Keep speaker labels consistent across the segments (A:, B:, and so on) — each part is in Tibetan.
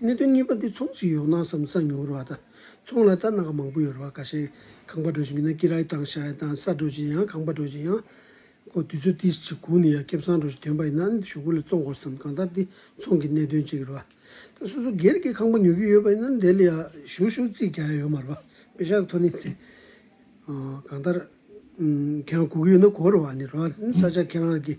A: གནད་དོན་གཉིས་པ་འདི་ཚོང་ཞིག་ཡོང་ན་བསམ་ས་ཉུང་རུ་བ་དང་ཚོང་ལ་རྟ་རྣག་མང་པོ་ཡོད་རུ་བ་ག་ཤེད་ཁང་པ་འགྲོ་བཞིན་ཡོད་ན་ཀི་རྭའི་དང་ཤ་ཡའི་དང་ས་འགྲོ་བཞིན་ཡང་ཁང་པ་འགྲོ་བཞིན་ཡང། གོ་དུས་ཚོད་ཏིས་ཅིག་གུག་ནས་ཡང་སྐེབས་སང་འགྲོ་བཞིན་དོན་པ་ཡིན་ན་ཞུགས་པོ་ལ་བཙོང་དགོས་སམ་གང་ལྟར་འདི་ཚོང་གི་གནད་དོན་ཅིག་རུ་བ། ད་སོ་སོ་སྒེར་གྱི་ཁང་པ་ཉོ་གི་ཡོད་པ་ཡིན་ན་འདི་ལ་ཡང་ཞུགས་ཞུགས་རྩིས་རྒྱག་ཡ་ཡོད་མ་རུ་བ་པེ་ཤག་ཐོ་ནི་ཚེ། གང་ལྟར། གང་གུག་གི་ཡོད་ན་གོ་རུ་བ་ནི་རུ་བ་ས་ཆ་ཁྱེད་རང་གི།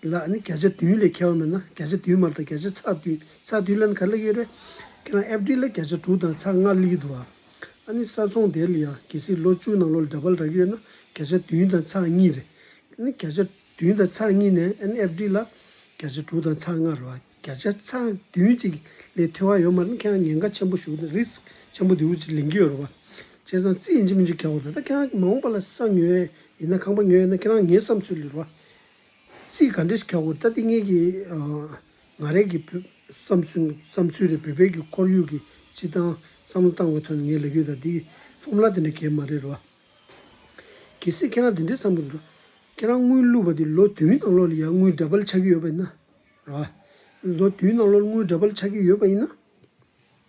A: འདི་དག་ནི་བརྒྱ་ཆ་བདུན་ལས་ཁྱད་པར་མེད་ན་བརྒྱ་ཆ་བདུན་མར་དང་བརྒྱ་ཆ་ཚ་བདུན་ཚ་བདུན་ལན་ག་ལ་ཡོད་རེད། ཁྱེད་རང་ཨེབ་ཀྲིལ་ལ་བརྒྱ་ཆ་དྲུག་དང་ཚ་ལྔ་ལི་གི་འདུག་ཨ། ཨ་ནི་ས་ཚོང་དེ་ལ་ཡང་གལ་སྲིད་ལོ་བཅུ་ནང་ལོ་ལ་འདྲ་པར་རག་གི་ཡོད་ན་བརྒྱ་ཆ་བདུན་དང་ཚ་གཉིས་རེད། ཨ་ནི་བརྒྱ་ཆ་བདུན་དང་ཚ་གཉིས་ནས་ཨ་ནི་ཨེབ་ཀྲིལ་ལ་བརྒྱ་ཆ་དྲུག་དང་ཚ་ལྔ་རེད་བ་བརྒྱ་ཆ་ཚ་བདུན་གཅིག་ལས་མཐོ་བ་ཡོད་མ་རེད་ཁྱེད་རང་ཉེན་ཁ་ཆེན་པོ་ཞུགས་ནས Risk ཆེན་པོ་འདིའུ་ཅིག་ལེན་གི་ཡོད་རེད་བ། བྱས་ཙང་རྩིས་ཡིན་གྱི་མིན་གྱི་ག་བ་རེད་ད་ཁྱེད་རང་མ་འོངས་པ་ལ་ས་ཉོ་ཡས་ཡིན་ན་ཁང་པ་ཉོ་ཡས་ན་ཁྱེད་རང་ངའི་བསམ་ཚུལ་ལས་རེད་བ། རྩིས་ག་འདྲ་ཞིག་ཁྱག་གོ་ལྟ་ཏི་ངེད་ཀྱི་ང་རེད་ཀྱི་བསམ་ཚུལ་རེད་བོད་པའི་ཁོར་ཡུག་གི་སྤྱི་བཏང་བསམ་བློ་བཏང་བའི་ཐོག་ནས་ངའི་ལས་སྐྱོན་དང་འདི་ཡི་ཧྥོ་མུ་ལ་དེ་འདྲ་གལ་མ་རེད་རོ། གལ་སྲིད་ཁྱེད་རང་དེ་འདྲའི་བསམ་གྱི་འདུག་ཁྱེད་རང་དངུལ་བླུག་པ་དེ་ལོ་བདུན་ནང་ལོགས་ལ་ཡང་དངུལ་འདྲ་པར་ཆགས་ཀྱི་ཡོད་པ་ཡིན་ན་རོ། ལོ་བདུན་ནང་ལོགས་ལ་དངུལ་འདྲ་པར་ཆགས་ཀྱི་ཡོད་པ་ཡིན་ན།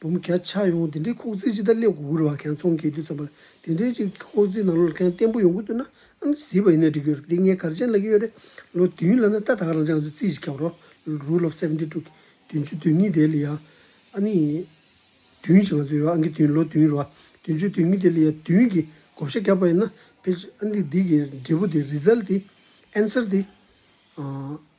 A: འབུམ་བརྒྱ་ཆགས་ཡོང་དེ་འདྲའི་ཁོག་རྩིས་ཅི་ལྟར་སླེབས་དགོས་ཀྱི་རེད་བ་གང་ཚོང་གི་དུས་ཙམ་པར་དེ་འདྲའི་ཅིག་ཁོག་རྩིས་ནང་ལོག་གང་བརྟན་པོ་ཡོང་གི་འདུག་ན་ཨང་ཀི་བཟི་བ་ཡིན་ན་འགྲིག་གི་ཡོད་རེད་འདི་ངས་གར་ཅན་ལ་གི་ཡོད་རེད་ལོ་དུས་ཡུན་ལ་ན་ཏག་ཏག་རང་ཅག་ང་ཚོས་རྩིས་ཅིག་བརྒྱབ་རོགས་རུ་ལོབས་སེ་བནྡི་དྲུག་བདུན་བཅུ་དོན་གཉིས་དེ་ལ་ཡ་ཨ་ནི་དུས་ཡུན་ཅིག་ང་ཚོས་ཡོད་ཨང་ཀི་དུས་ལོ་དུས་ཡུན་རུ་བ་བདུན་བཅུ་དོན་གཉིས་དེ་ལ་ཡ་དུས་ཡུན་གི་བགོ་བཤའ་བརྒྱབ་པ་ཡིན་ན་ཕེ་ཨ་ནི་འདི་གི་འབྲས་བུ་དེ་རིས་ལ་ཏི་ཨེན་སེར་ཏི་ཨ།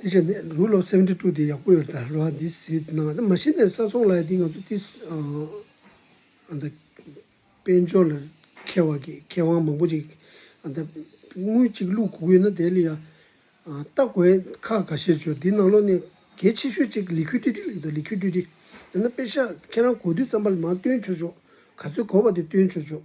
A: དེ་བྱས་ནས་རུལ་ལོ་སེམས་ཁྲལ་དཀྲུག་དེ་ཡག་པོ་ཡོད་ད་རོ་ཨ་འདིས་ཟིག་གནང་ད་མ་ཤི་ནས་ས་སོང་ལ་ཡ་དེ་ང་ཚོ་ཏིས་ཨ་ད་དཔལ་འབྱོར་ལ་མཁས་བ་གི་མཁས་དབང་མང་པོ་ཅིག་ཨ་ད་དངུལ་གཅིག་བླུག་གུ་གུ་ན་དེ་ལ་ཡ་ལྟ་དགོས་ཁ་ག་ཤེད་བྱོས་དེ་ནང་ལོག་ནས་གལ་ཆེ་ཤོས་ཅིག་ལི་ཁུ་ཏི་ཏི་ལེགས་འདུག་ལི་ཁུ་ཏི་ཏི་ཡང་ན་དཔེ་ཤག་ཁྱེད་རང་གོ་དུས་རྩམ་པ་ལ་མང་བཏོན་བྱོས་བྱོས་ག་ཚོད་གོ་བ་དེ་བཏོན་བྱོས་བྱོས་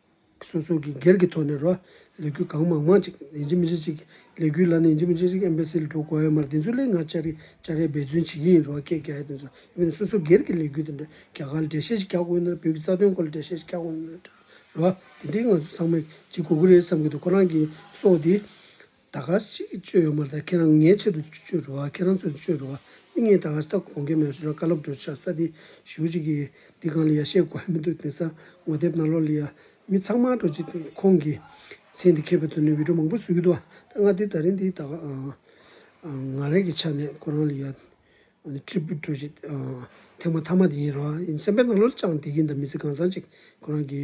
A: སོ་སོ་གིས་སྒེར་གྱི་ཐོག་ནས་རོ་ལས་འགུལ་གང་མང་མང་ཅིག་ཡིན་གཅིག་མིན་གཅིག་ཅིག་ལས་འགུལ་ལ་ནི་ཡིན་གཅིག་མིན་གཅིག་ཅིག་ཨེམ་པའི་སི་ལ་འགྲོ་དགོས་ཡོད་མ་རེད་དེ་ཚོའི་སླད་ང་ཅར་རེ་ཅར་རེ་འབད་བརྩོན་བྱེད་ཀྱི་ཡིན་རོ་སྐད་རྒྱག་ཡ་དེ་ཚོ་ཡིན་པས་སོ་སོ་སྒེར་གྱི་ལས་འགུལ་དེ་འདྲ་རྒྱ་གར་ལ་འགྲེལ་བཤད་ཅིག་རྒྱག་དགོས་ཡོད་ན་རེ་བོད་ཀྱི་རྩ་དོན་སྐོར་ལ་འགྲེལ་བཤད་ཅིག་རྒྱག་དགོས་ཡོད་ན་རེ་རོ་དེ་འདྲའི་ང་ཚོ་ཚང་མས་ཅིག་གོ་གི་རེད་བསམ་གྱི་འདུག་ཁོ་རང་གིས་སོགས་དེ། ད་ག་ཟེ་ཞིག་གཅོད་ཡོད་མ་རེད་ད་ཁྱེད་རང་ངའི་ཆེད་དུ་གཅོད་འགྲོ་བ་ཁྱེད་རང་ཚོས་གཅོད་འགྲོ་བ་ནི་ངས་ད་ག་ཟེ་ད་དགོངས་ཀྱི་མེད་ཟེར་བ་བཀའ་སློབ་བསྒྲོད་ཆགས་ས་དེ་ཞུ་ཅིག་གི་འདི་གང་ལ་ཡ་བཤད་དགོས་མི་འདུག་དེང་སང་ངོ་དེབ་ནང་ལོག་ལི་ཡ་མི་ཚང་མ་འགྲོ་ཅིག་ཁོང་གི་མཚན་དེ་ཁེབས་པའི་དོན་ནི་བིད་ཀྲོ་མང་པོ་བཟོས་ཀྱི་འདུག་ད་ང་དེ་ད་རིང་འདི་ད་ང་རེ་གི་ཆ་ནས་ཁོ་རང་ལི་ཡ་ནི་ཁྲི་འབུད་འགྲོ་ཅིག་ཐེངས་མ་ཐ་མ་དེ་ཡིན་རོ་ཡིན་སེམས་པའི་ནང་ལོག་ལི་ཅང་བསྡད་ཀྱི་འདུག་མི་ཚེ་གང་ཟག་ཅིག་ཁོ་རང་གི།